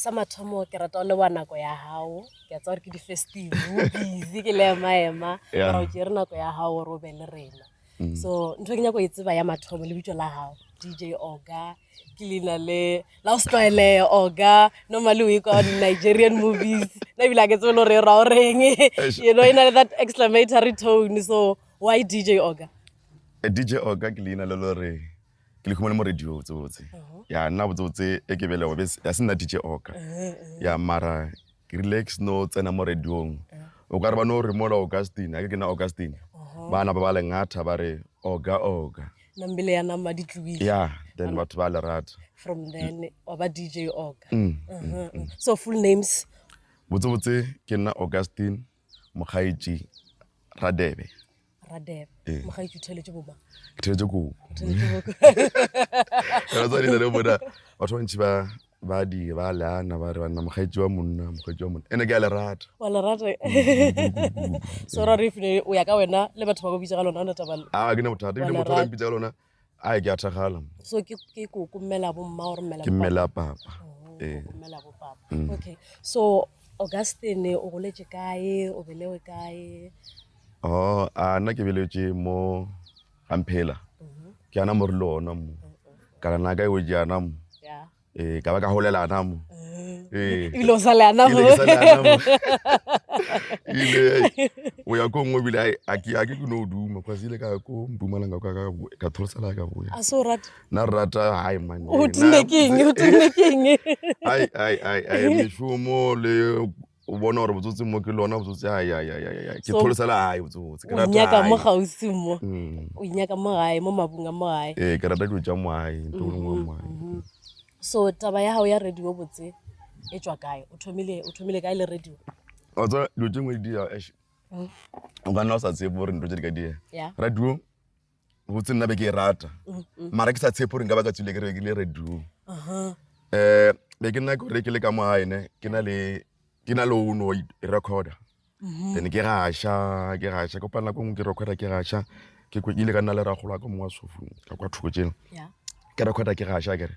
sa mathomo ke rata le wa nako ya gago ke a tsa gore ke di-festive busy ke le emaema Yeah. ra o jere nako ya gago gore o be le rena mm. so ntho e ke nyako e tseba ya mathomo lebitso la gago dj oga ke leina le la o setlwaeleye oga normally o e kwa di-nigerian movies na ebile a ke tsebe le gore e ra o reng you know e na le that exclamatory tone so why dj oga eh, dj oga ke leina le lore ke lehumo le mo radio botsebotse ya nna botsebotse e ke belego be ya se nna dj oka ya mara ke rile ke seno tsena mo radiong o ka re ba no re mola augustine a ke ke na augustine ba napa ba lengatha ba re oga oga nambele ya nama di tlobile ya then batho ba le rata from then wa ba dj oka mm, mm, mm. so full names botsebotse ke nna augustine mokgaetši radebe radebe ee. mokgaetši o theletše boma ke theletše kobo ratsanile le bona batho bantši ba ba di ba leana ba re banna mokgaetši wa monna mokgaetši wa monna ene ke a lerata wa lerata so ra re fine o ya ka wena le batho ba go bitsa ka lona ona tabalo a ah, ke ne bothata ebile motho a mpitsa ka lona a e ke a thagala so ke ke ko ko mmela bo mma or mmela ke mmela papa oh, eh mmela bo papa mm. okay so augustine o goletse kae o belewe kae oh a nna ke beletse mo gamphela mm-hmm. ke ana mo re le ona mo mm-hmm. kana na ka e o jana mo ee ka ba ka golela ana mo ebile o sale ana mo ile o ya ko nngwe ebile a ke a ke ke no duma kwa ile ka ko mpumalanga ka ka ka thorsela ka boya a so rata na rata hai man o tine king o tine king ai ai ai ai mishomo le o bona gore botsotsi mo ke lona botsotsi ayayayaya ke So, tholosela gae botsotsi ke o rata nyaka mo gae. gausi mo Mm. o nyaka mo gae mo mabung a mo gae ee ke rata dilo tša moae nto o lengwe wa moae Mhm. so taba ya gago ya radio botse e tswa kae o thomile o thomile kae le radio wa tseba dilo tše ngwe di dira ash o ka nna o sa tsebe gore nto tše di ka diega ya radio botse nna be ke e rata mara ke sa tshepo gore nka ba ka tswile ke rekile radio um be ke nna kore ke le ka mo gaene ke na le ke na le ono e recorder then ke gaša ke gaša kopa nako ngwe ke recorder ke gaša ke ile ka nna le ragolo wa ka mongwe wa sofong ka kwa thoko jeno ke recorder ke gaša kere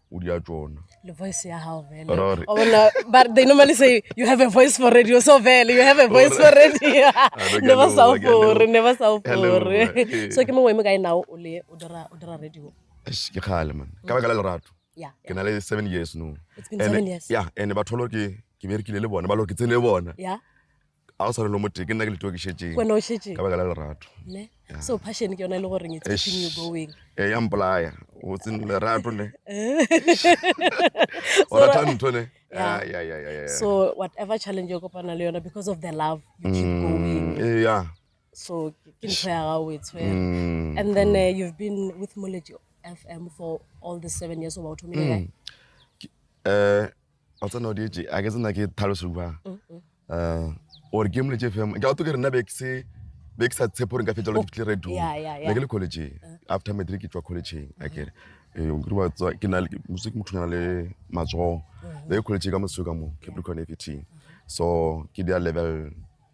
o di a tšona le voice ya gago they normally say you have a voice for radio so vele you have a voice for radio ne ba sa ofore ne ba sa ofore so ke mongwe mo ka enao o le o dira o dira radio ke kgale man ka baka la lerato ke na le seven years no ya ene batho lo ke ke berekile le bona ba lo ke tsene le bona a go tshwanelo motee ke nna ke letiwa ke šetšeng wena o šetše ka baka la lerato ne Yeah. so passion ke yona e le goreng it's Eish. keeping you going e ya mpolaya o tsene lerato le o So- rata ntho ne Yeah. Ya, ya, ya, ya, ya. so whatever challenge o kopana le yona because of the love you keep Mm, going eh, ya. so ke ke ntho ya gago o e tshwere Mm, and then uh, you've been with moleji fm for all the seven years oba o thomile kae? mm. Ke- eh, wa tsena o dietše a ke tsena ke tlhaloso ba gore ke mole tše femo ke auto ke rena be ke se be ke sa tshepo gore nka fetsa le fitlhe radio ne ke le college after matric ke tswa college a ke re eh o kiriwa tswa ke na le music motho na le matsogo le college ka mosuka mo Capricorn FET so ke dia level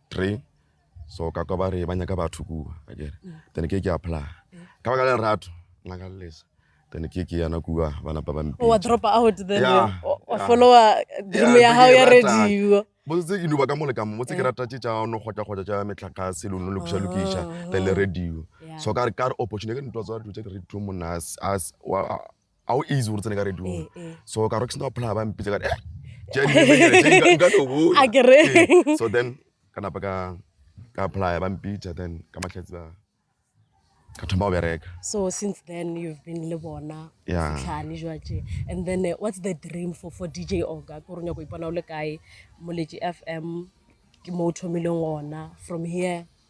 3 so ka kwa ba re ba nyaka batho kua akere then ke ke apply ka baka la lerato nna ka lelesa then ke ke yana kua ba napa ba mpe wa drop out then yeah, wa follower dream ya hao ya radio botse ke duba ka mole ka mo botse ke eh. rata tše tša no kgotla kgotla tša metlakase lo no le kuša lokisha then le radio so ka re ka re opportunity ke ntwa tsa radio tše ke radio monna as as a o easy gore tsene ka radio eh, eh. so ka rock sna phla ba mpitse ka eh ke eh, so then ka napa ka ka apply ba mpitsa then ka mahlatsi ba ka thoma go bereka so since then you've been le bona setlhane jwaje and then uh, what's the dream for for dj oga ko ronya go ipona o le kae moletši fm ke mo o thomileng gona from here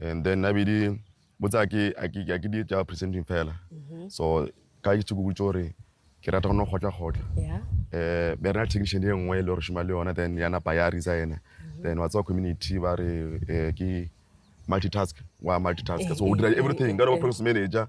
and then a be di botsa ke a ke di tša presenting fela mm-hmm. so ka ke tsheko botsa gore ke rata go no kgotla kgotla um be rena technician e nngwe e le gore šoma le yona then ya napa ya resigna mm-hmm. then wa tsewa community ba re um ke multitask wa multitask so o dira everything ka re ba process manager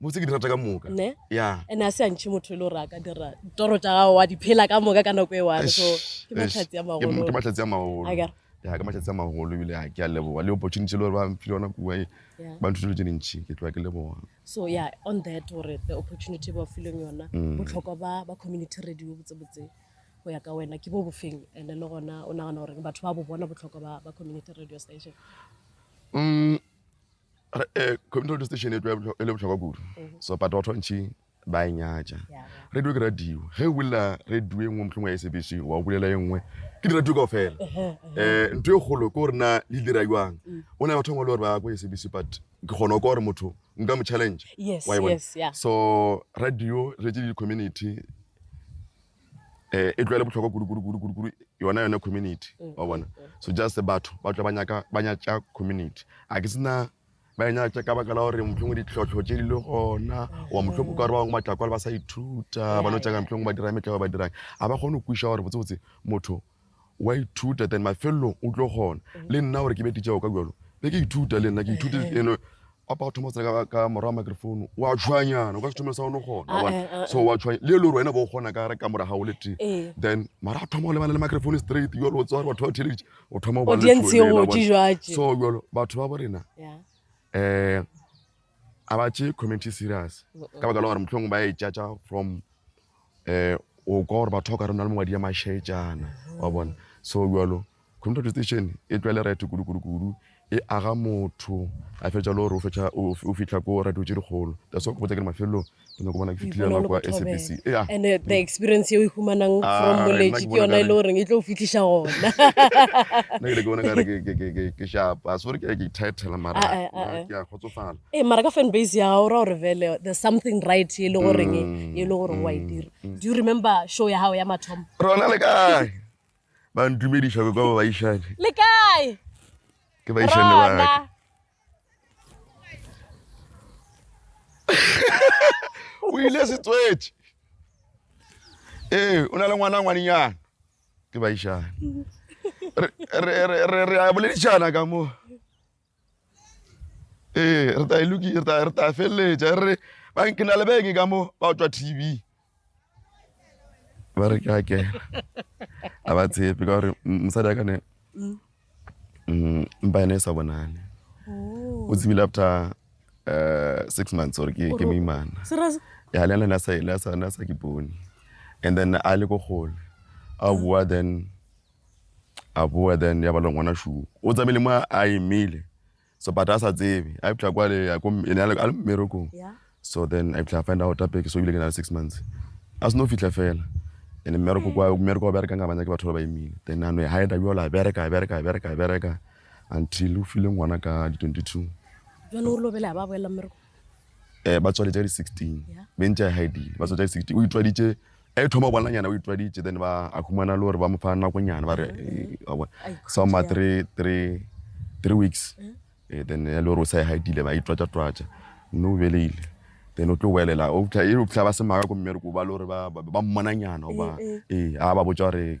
botse ke di rata ka moka ne yeah. and a se antšhe motho e le gore a ka dira toro tša gago wa di phela ka moka ka nako e one so ke mahlatsi a magolo ke mahlatsi a magolo ya ke mahlatsi a magolo ebile a ke a leboga le opportunity le gore ba mphile yona kua e ba ntho dilo tse dintšhi ke tloa ke leboga so yeah on that gore the opportunity ba fileng yona mm. botlhokwa ba ba community radio botsebotse go ya ka wena ke bo bofeng and le gona o nagana gore batho ba bo bona botlhokwa ba community radio station mm. Eh, community radio station e le botlhokwa kudu mm-hmm. so but batho bantšhi ba e nyatša radio ke radio ge o bolela radio e nngwe motlhong ya sabc wa o bolela e nngwe ke di-radio kao fela um ntho e kgolo ke gore na le dira jwang mm. o na batho bangwe le gore ba ko ya sabc but ke kgona kwa gore motho nka mo challenge e so radio re tse di-community eh, e tlwaele bohlokwa kudu-kudu-kudu-kudu yona yone community mm. wa bona so just batho ba tla ba nyatša community a ke sena ba e nyatša ka baka la gore mohlongwe ditlhotlho tše di le gona wa mm. mohlongwe ka gore ba bangwe batlakwale ba sa ithuta ba no tšaka mohlongwe ba dira metlego ba dirang a ba kgone go kwiša gore botsebotse motho wa ithuta then mafelelong o tlo kgona le nna gore ke be titšago ka bjalo be ke ithuta le nna ke ithute eno a pa thoma tsena ka ka mora microphone wa tshwanyana o ka se thomelo sa one gona ah, bona ah, ah, so wa tshwanya le le gore wena bo gona ka re ka mora gago le tee eh. then mara a thoma go lebana le microphone straight jalo o tsware batho ba theleditše o thoma go so jalo batho ba bo rena um a ba tše community serious ka baka la gore motlhong ba e tšatša from um o kwa gore batho ba o ka re o na le mongwadi ya mašaetšana wa bona so jalo community station e tlwa le right kudu-kudu-kudu e aga motho a fetša le gore o fitlha ko radio tše dikgolo that's wa kopotsa ke le mafelelong ke nyako bona ke fitlhile nako kwa sabc and the experience yeo e humanang ah, from moletši ke yona e le goreng e tlo o fitlhiša gona nna ke le ke bona kare ke shapa sore ke ke title mara ah, ah, ke a kgotsofala ee mara ka fan base ya gago ra gore vele there's something right e le goreng e le gore wa e dira do you remember show ya gago ya mathomo rona le kae ba ntumediša ko kwa baišane le kae ke baišane ba rona ka o ile se tswetše ee o na le ngwana ngwaninyana ke baišane Re- re re- re- re a boledišana ka moo Ee, re ta e loki, re ta, re ta feleletša re re ba ke na le beng ka mo ba tšwa tv ba re ke a kena a ba tshepe ka gore mosadi a kane mm. mm, mpa ene e sa bonane oh. o tsebile after uh, six months ore ke ke moimana ya le ena sa ile sa na sa ke bone and then a le go gole a bua then A boa then ya ba le ngwana shu. O tsamaile mo a emile. So but a sa tsebe. A fihla kwa le ya ko ene a le mmerekong. So then a fihla find out apeke so bile ke na le 6 months. A seno fihla fela. Ene mmereko kwa mmereko wa bereka nga banya ke batho ba ba emile. Then a no e hide yo la bereka bereka bereka bereka until o file ngwana ka di 22. Jone o lobela ba boela mmereko. Eh ba tswale tsa di 16. Be ntse a hide. Ba tswale tsa di 16. O itwaditse e thoma bona nyana o itwaditše then ba a humana le gore ba mo fa nakonyana ba re sa ma three three three weeks mm. eh, then ya le gore o sa e haitile ba itwatša twatša mme o beleile then o tlo welela o fitlha e fitlha ba se maka ko mmereko ba le gore ba mmona nyana oba ee eh, eh. a ba botsa gore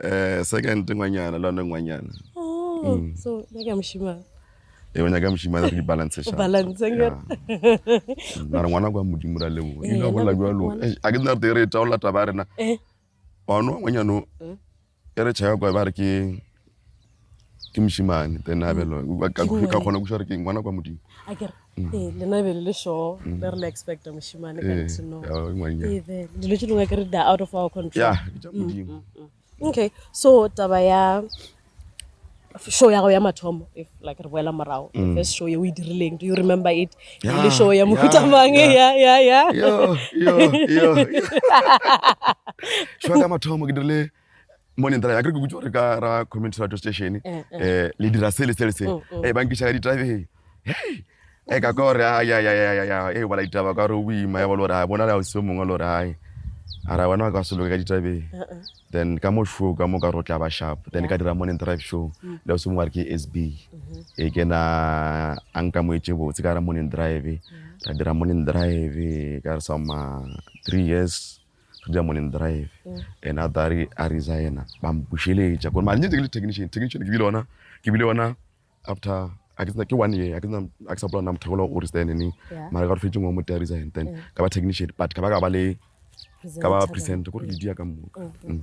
Eh, second ngwanyana le one ngwanyana Oh, so nna ke a mošimang e o nyaka mošimane re di-balance O balance, nge? mara ngwana kwa modimo ra leboa Eh, ino bolla nako- jalo ngwana- Eish, a ke nna rete e re e taola taba ya rena Eh. ono ngwanyano e re tšhaya kwa ba re ke ke mošimane then a belwa ka kgona kuša gore ke ngwana kwa modimo lena e be le le sure le re le expecta mošimane ka ntino dilo tse dingwe ke re da out of our control okay so taba ya show ya go ya mathomo if like re boela morago the mm. first show ye o e dirileng do you remember it le show ya mohutamang ya ya ya show ya mathomo ke dirile Morning driver, akere ke kutse gore ka ra community radio station eh, eh. eh le dira se le se le se mm, mm. eh ba nkiša ka ditabeng hey e ka ka gore ya ya ya ya ya e bala ditaba ka gore o boima ya bolo gore a bona le a o se mongwe le gore hai a ra bona ka se loke ka ditabeng uh, uh. then ka mo show ka mo ka gore o tla ba sharp then ka dira morning drive show mm. le o se mongwe re ke sb mm-hmm. e ke na a nka mo etse botse ka ra morning drive ra dira morning drive ka re sa ma three years re dira morning drive and a tare a resigna ba mpušeletša kore mare nyetse ke le technician technician ke bile ona ke bile ona after a ke tsena ke one year a ke tsena a ke sa bola na motho gola o resign ne mara ka re fetse ngwe mote a resign then ka ba technician but ka ba ka ba le ka ba present gore le dia ka moka mm.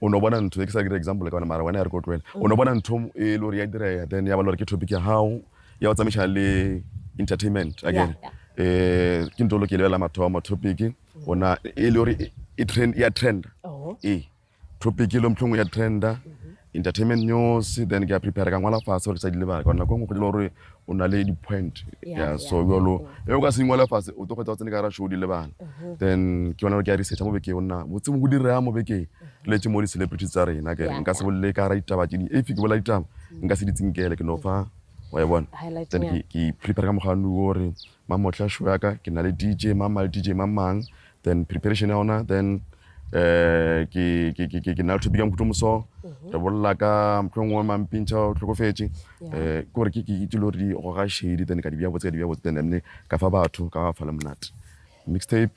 o no bona ntho e ke sa dira example ka yona mara wena ya re ko tloela o no bona ntho e le gore ya direga then ya ba le gore ke topic ya gago ya go tsamaiša le entertainment again um ke ntho lo ke lebelela mathomo topic gona e le gore ya trenda ee topic e lo mtlhong ya trenda entertainment news then ke ya prepare ka ngwala fase gore ke sa di lebaka gore nako e nngwe go dilo gore o na le di-point ya so jalo e o ka se ingwala fase o tlo kgwetsa o tsene ka ra show di lebala mhm. then ke yona ke ya researcha mo bekeng o nna botse mo go direga mo bekeng mhm. letse mo di-celebrity tsa rena kere nka se bolele ka ra ditaba tse di if ke bola ditaba mhm. nka se di tsinkele ke no fa wa e bona then ke prepare ka mokgwa o gore Mamohla show ya ka ke na le DJ mang mang le DJ mang mang then preparation ya ona then eh ke ke ke ke na le topic ya mokhuto moso mhm. re bolla ka motho ngwe mang pintsha o tlhokofetse eh ke gore ke ke itse lo re go ga shady then ka di bya botse ka di bya botse then ne ka fa batho ka fa le monate mixtape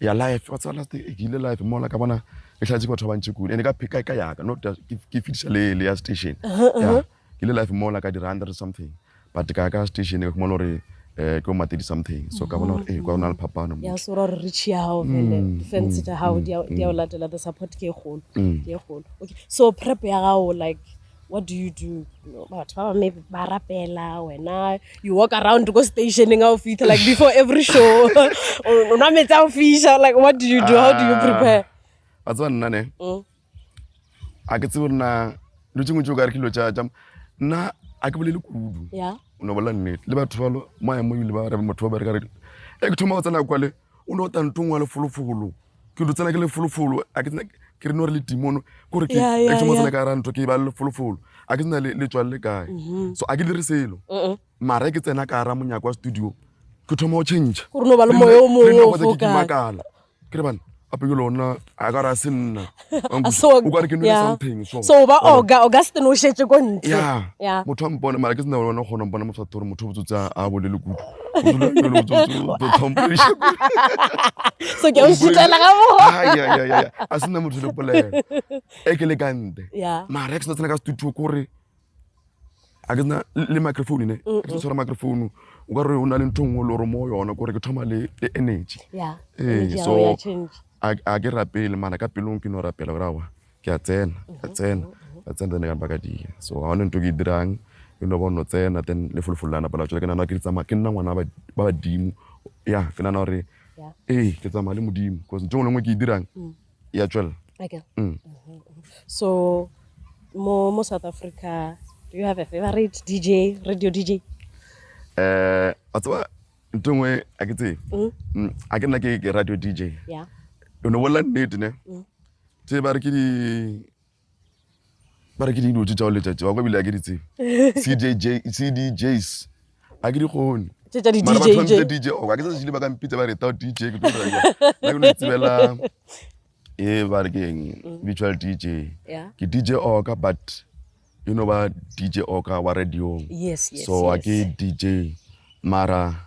ya life wa tseba last e ke ile life mola ka bona e tlhatse batho ba bantši kule ene ka pheka ka yaka not ke fitisa le le ya station ya ke ile life mola ka dira hundred something but ka ka station ke mola gore eh ke o matedi something so ka bona gore eh kwa o na le phapano ya so ra re tšhi ya gago fele mm, defense mm, tša gago mm, di a o latela the support ke e kgolo ke e kgolo okay so prep ya gago like what do you do batho ba bame ba rapela wena you walk around ko stationeng ga o fitlha like before every show o nwa metsi a o fisha like what do you do how do you ah, prepare ba tseba nna ne mm. a ke tsebo nna lo tšengwe tse o ka re ke lo tša nna a ke bolele kudu o ne bolela nnete le batho balo mo a mo ebile ba rebe motho ba bereka re e ke thoma go tsena kwale o no tla ntong wa lefolofolo ke ntho tsena ke lefolofolo a ke tsena ke re no re le timono kore ke ke mo tsena ka ra ntho ke ba lefolofolo a ke tsena le tswa le kae mm-hmm. so a ke dire selo uh-uh. mara ke tsena ka ra monyako wa studio ke thoma go change gore no ba le moyo o mongwe o fokala ke re bana ape ke lona a ka ra se nna so ba oga oga se no shetse ko ntse ya ya motho mpone mara ke sena bona gona mpona motho tore motho botso tsa a bole le kudu so ke o shitsela ga mo ya ya ya a sena motho le polela e ke le kante ya mara ke sena ka studio kore a ke na le microphone ne ke tlo tshwara microphone o ka re o na le ntho nngwe le gore mo yona kore ke thoma le le energy ee so a ke rapele mara ka pelong ke no rapela gore awa ke a tsena ka tsena ka tsena tsene ka mpa ka dia so ga one ntho ke e dirang e no ba o no tsena then le folofolo la napela tswela ke nana ke di tsamaya ke nna ngwana ba badimo ya ke nana gore ee ke tsamaya le modimo bcause ntho e nngwe le nngwe ke e dirang mm. ya tšwela okay. mm. so mo, mo south africa do you have a favorite dj radio dj um a tseba nto ngwe a ke tsee mm. mm, a ke nna ke radio dj yeah. o ne bolela nnete ne mm. tse ba re ke di ba re ke dilo tse tšao letšatši wa kwa ebile a ke di tsebe cdjs a ke di kgone tše tša mara batho ba mpitsa di-dj dj o ka ke sa šile ba ka mpitsa ba retao dj ke tlo dira ke no tsebela e ba re ke eng mm. virtual dj ke dj oka but e no ba dj oka wa radiong so a ke dj mara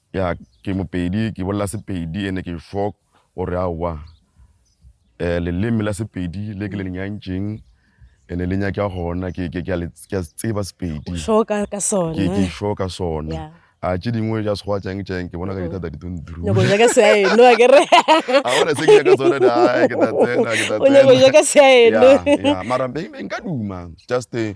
Ya ke mopedi ke bolela sepedi ene ke fo gore a wa eh leleme la sepedi le ke le nyantšeng ene le nyaka gona ke ke ke ke tseba sepedi so ka ka sona ke ke fo ka sona a tše dingwe ja se go tsang tsang ke bona ka dithata di tun dru no go ja ka se ai no ke re a bona se ke ka sona da ke ta tsena ke ta tsena o ne go ja ka se ai no ya mara be nka duma just eh,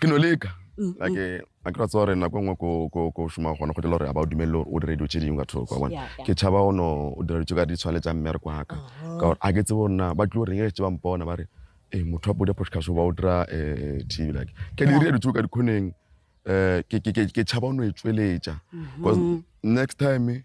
ke no leka like a ke ra tsewa gore nako e nngwe ko šoma gona go dela gore a ba o dumelele gore o dire dilo tse dingwe ka thoko wa bona ke tšhaba o no o dira ditso ka di tshwane tsa mmereko wa ka ka gore a ke tsebe gore na ba tlio reng e tse ba mpona ba re e motho wa bodi ya podcast ba o dira um t v like ke di dire ditso ka dikgoneng um ke tšhaba o no e tsweletša because next time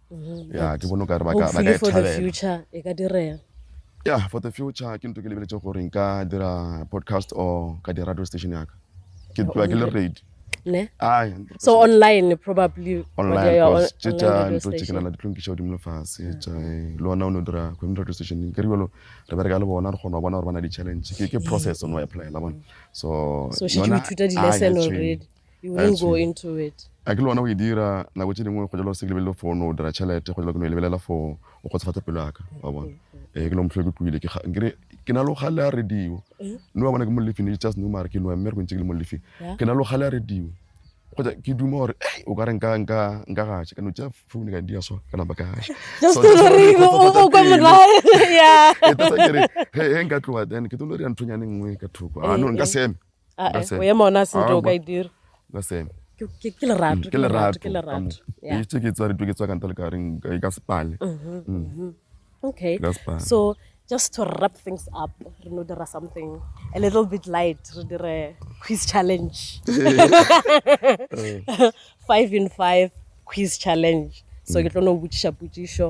Mm-hmm. ya ke bone o ka re ba ka e thabela ya for the future ke nto ke lebeletse gore nka dira podcast or ka di radio station yaka ke tloa ke le ready so online probably online course tše tša nto tše ke nana ditlonkiša godimo lefase tša eh, le ona o ne o dira community radio station ke re bjalo re bereka le bona re kgona go bona gore ba na di-challenge ke process o ne wa applyela bona so so she ithuta di-lesson already You won't go into it. A ke le ona o e dira nako tše dingwe go jalo se ke lebelele for no dira tšhelete go jalo ke no e lebelela for o kgotsofatsa pelo yaka wa bona ee ke no motlhole ke tloile kere ke na le gale a radio no wa bona ke mo lefing e just no mare ke noa mmereko ntse ke le mo lefing ke na le gale a radio kgotsa ke duma gore e o ka re nka nka nka gaša ka no tša phone ka dia so ka napa ka gaša kere he nka tloa then ke tlo le re ya nthonyane nngwe ka thoko a no nka seme Ah, That's eh, it. o ema ona a sente o Aowa. ka e dira the same Ke- ke ke lerato ke lerato ke lerato Yeah. etse ke tsare ke tswa ka nta le ka reng ka- ka sepale okay That's fine. so just to wrap things up re no dira something a little bit light re dire quiz challenge five in five quiz challenge so ke tlo no botšiša potšišo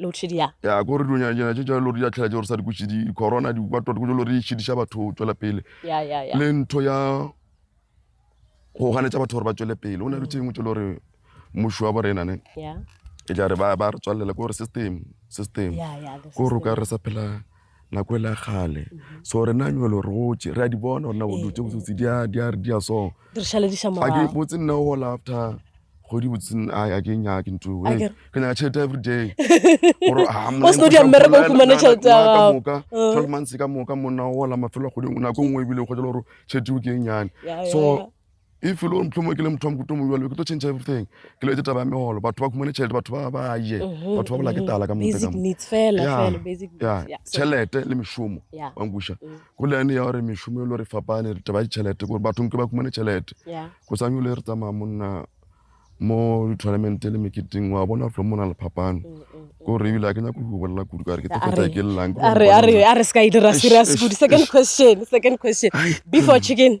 loadshedding ya. Ya ko re dunya dina tše tša lori ya tlhela tše gore sa di kutše di corona di kwa tota ko jo lori e šidiša batho tšwela pele ya ya ya le ntho ya go ganetša batho gore ba tšwele pele o na le tšengwe tše le gore mmušo wa borena ne ya e tla re ba ba re tswalela ko gore system system ya ya the ko re o ka system. re sa phela nako e la kgale so re na nyolo re gotse re a di bona gore na go dutse botsotsi di a di a di a so di re šalediša a ke morago botse nna o gola after kgwedi botse a a ke nya ke ntho A e ke- ke nyaka tšhelete every day gore a Wa seno di a mmereka o fumane tšhelete ya gago. moka Mm. 12 months ka moka monna o gola mafelo a kgwedi nako nngwe ebile o kgotsa gore tšhelete o ke e nyane Ya, ya, so ya. if e le gore motlhomo ke le motho wa mokuto mo jalo ke tlo change everything ke letse taba ya megolo batho ba khumane tšhelete batho ba ba je mhm, batho ba bola ke mhm. tala ka motšhelete le mešomo wankuša mm. go lene ya gore mešomo e le gore fapane taba ya ditšhelete gore bathong ke ba khumane tšhelete go sanye le re tsamaya monna mo di-tournamente le meketing wa bona flo mo na le phapano mm, mm, kore ebile a ke nyako go bolela kudu kare ke tefetsa ke llang a re se ka e dira serious good second question second question before chicken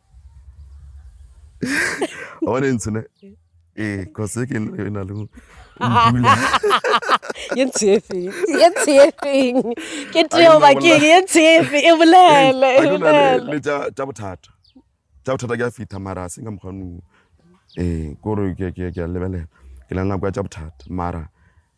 one e ntshone ee cause ke e na le mpula ye ntshefeng ye ntshefeng ke teo bakeng ye ntshefe e bolele e bolele le tša tša bothata tša bothata ke a fitha mara se nka mokgwanong ee kore ke ke ke a lebelela ke na nako ya tša bothata mara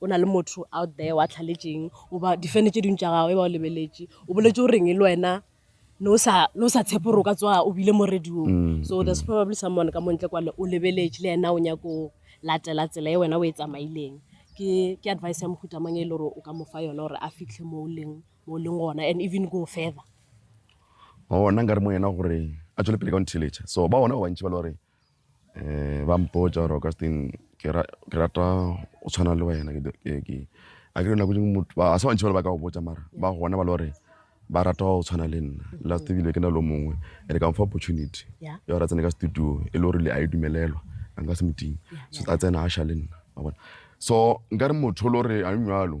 O na le motho out there wa tlhaletšeng, o ba difene tše dingwe tša gago e ba o lebeletše, o boletše o reng e le wena ne o sa ne o sa tshepe gore o ka tsoga o bile mo radiong. Mm, So there's mm. probably someone ka montle kwale o lebeletše le yena o nyako o latela tsela e wena o e tsamaileng. Ke ke advice ya mohuta mang e le gore o ka mo fa yona gore a fitlhe mo o leng mo o leng gona and even go further. Oh, nna nka re mo yena gore a tšwele pele ka go ntheeletša. So ba gona ba bantši ba le gore Eh, ba mpotša gore augustine ke rata go tshwana le wena a kere nako dingwe motho a se bantšhi bale ba ka go botša mara ba gona ba le gore ba rata go tshwana le nna last ebile ke na lo mongwe and ka mfa opportunity ya gore a tsene ka studio e le gore le a e dumelelwa a nka se moting so a tsena a sha le nna so nkare motho le gore a jalo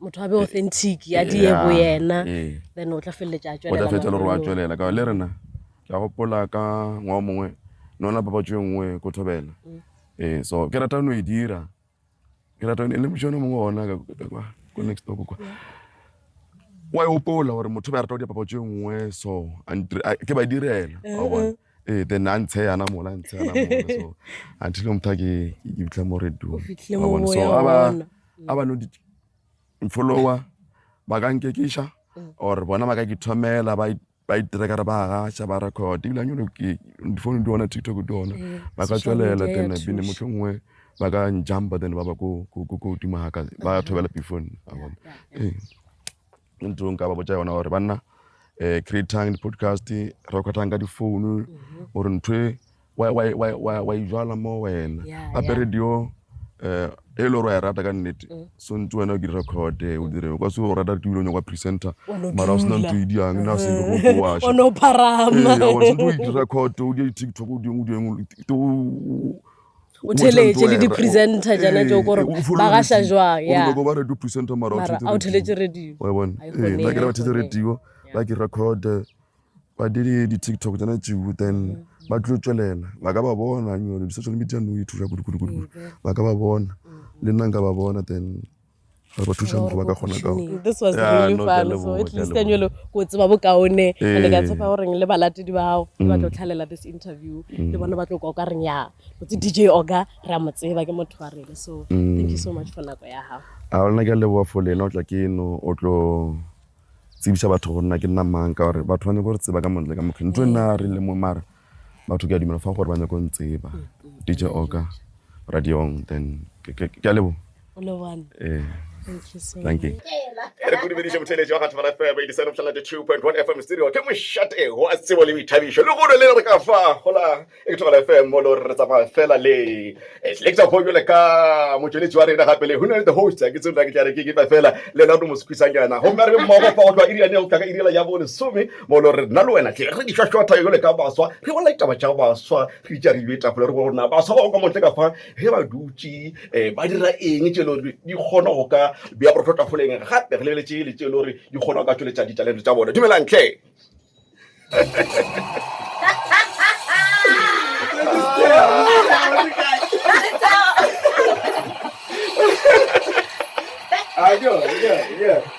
motho a be authentic a die bo yena then o tla feleletša a tšwelela o tla feleletša le gore a tšwelela ka le rena ke a gopola ka ngwao mongwe nona papatšo e nngwe ko thobela mm. ee so ke rata no e dira ke rata e le mošone mongwe ona ko next door kwa wa e gopola gore motho ba rata go dira papatšo e nngwe so ke ba direla wa bona mm-hmm. Eh, then a ntshe yana mola a ntshe yana mola so until o motha ke ke bitla mo radio fitlhile Wa bona? so moya a ba ona. a ba no di follower ba ka nkekisha or bona ba ka ke thomela ba i- ba itrekere ba gasha ba record ebile anyolo difounu di ona tiktok di ona ba ka social tswelela media ya then bine thuša. motlho nngwe ba ka njumpa then ba ba ko ko- ko- ko godimo ga ka ba thobela pifone a bona ee ke ntho nka ba botsa yona gore banna um creatang di-podcast recordang ka difounu mhm. gore ntho e wa e jala mo wena gape radio um eh, e le gore wa e rata ka nnete mm. so ntse wena o ke recorde o dire o ka se o rata ke dilo nyakwa presenter mara o sena ntho e diang na se go go wa sha o no pharama o sentse o di record o di tiktok o di o di o o theletše le di-presenter jana tšeo kore ba gaša jwang ya mara a o theletše radio bathetse radio ba ke record ba dire di-tiktok jana tšeo then ba tlo tswelela ba ka ba bona di-social media no e thuša kudukudukudu ba ka ba bona le nna nka ba bona then re ba thušang go ba ka gona ka this was Yeah, really no, ke a fun so leboga, at ke a least kanyolo ko o tseba bokaone and ke a tshepa goreng le balatedi ba gago le ba tlo tlhalela this interview le bona ba tlo kwa o ka reng ya botse dj oga re a mo tseba ke motho wa rena so thank you so much for nako ya gago a gona ke a leboga fo lena o tla ke eno o tlo tsebisa batho go nna ke nna mang ka gore batho ba nyako re tseba ka montle ka mokgeng ntho e nna a re le mo mara batho ke a dumela fa gore ba nyako ntseba dj oka radiong then ke a lebo eh. Thank you. re go dumediše botheletši wa ga thobala fm e disane botlhala di 2.1 fm studio ke mošate go a tsebo le boithabišo le golo le re ka fa gola e ke thobala fm mo le re tsamaya fela le selecta fo jole ka motšweletši wa rena gape le go na the host ke tsebela ke tla re ke kepa fela le lona re mo sekwisanyana gomme re be mmogo fa go tloa irianeo tlaka iriela ya bo lesome Bolo re nna le wena tle re di šwašwatha yo le ka baswa re bolela ditaba tša baswa re itša re ile tapole re bona baswa ba go ka montle ka fa ge ba dutše um ba dira eng tše le gore di kgona go ka bea borotho tafoleng gape re lebeletse ele tše le gore di kgona go ka tšweletša ditalente tša bone dumelang tle Yeah, yeah, yeah.